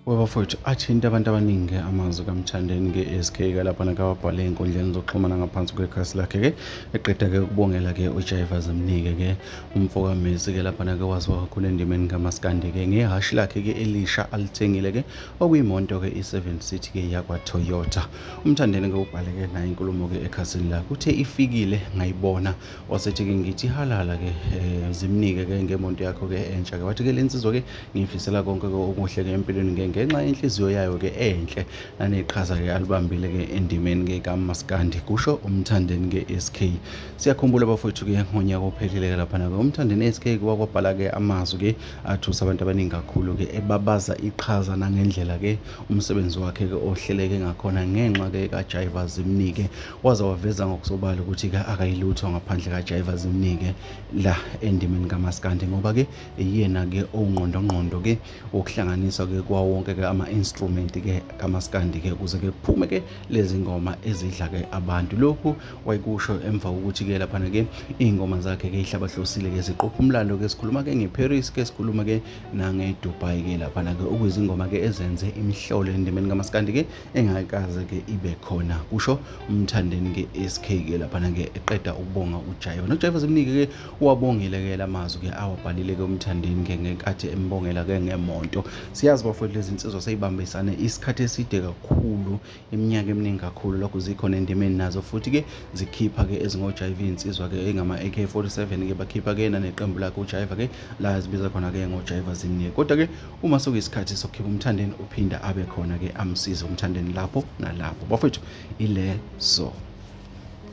wabafowethu athinta abantu abaningi-ke amazwi kamthandeni ke-sk-ke lapha nakawabhale ey'nkundleni zokuxhumana ngaphansi kwekhasi lakhe-ke eqeda-ke ukubongela-ke ujayiva zimnike-ke umfokamesi-ke lapha nake waziwa kakhulu endimeni kamaskandi-ke ngehhashi lakhe-ke elisha alithengile-ke okuyimonto-ke i-seven city-ke yakwatoyota umthandeni-ke ubhale-ke naye inkulumo-ke ekhasini lakhe uthe ifikile ngayibona wasethi ke ngithi halala ke um zimnike ke ngemonto yakho ke entsha ke wathi ke le nsizwa ke ngiyifisela konke ke okuhle ke empilweni ke ngenxa yenhliziyo yayo ke enhle naneqhaza ke alibambile ke endimeni ke kamaskandi kusho umthandeni ke SK siyakhumbula bafowethu ke ngonyaka ophelile ke laphana ke umthandeni SK wakwabhala ke amazwi ke athusa abantu abaningi kakhulu ke ebabaza iqhaza nangendlela ke umsebenzi wakhe ke ohleleke ngakhona ngenxa ke kajaiva zimnike waze waveza ngokusobala ukuthi-ke akayilutho ngaphandle kaJaiva Zimnike la endimeni kamaskandi ngoba-ke iyena-ke owungqondongqondo-ke wokuhlanganiswa-ke kwawo wonke-ke ama-instrument-ke kamaskandi-ke ukuze-ke kuphume-ke lezi ngoma ezidla-ke abantu lokhu wayekusho emva kokuthi-ke laphana-ke iy'ngoma zakhe-ke ihlabahlosile-ke ziqopha umlando-ke sikhuluma-ke ngeparis-ke sikhuluma-ke nangedubai-ke laphana-ke okuyizingoma-ke ezenze imihlolo endimeni kamaskandi-ke engakaze ke ibe khona kusho umthandeni ke SK ke lapha ke eqeda ukubonga uJaiva noJaiva zimnike ke wabongile ke lamazwi ke awabhalile ke umthandeni ke ngenkathi embongela ke ngemonto siyazi bafowethu lezi insizwa seyibambisane isikhathi eside kakhulu iminyaka eminingi kakhulu lokho zikhona endimeni nazo futhi ke zikhipha ke ezingoJaiva insizwa ke engama AK47 ke bakhipha ke naneqembu lakhe uJaiva ke la zibiza khona ke ngoJaiva zimnike kodwa ke uma sokuyisikhathi sokukhipha umthandeni uphinda abe khona-ke amsize umthandeni lapho nalapho bafowethu ilezo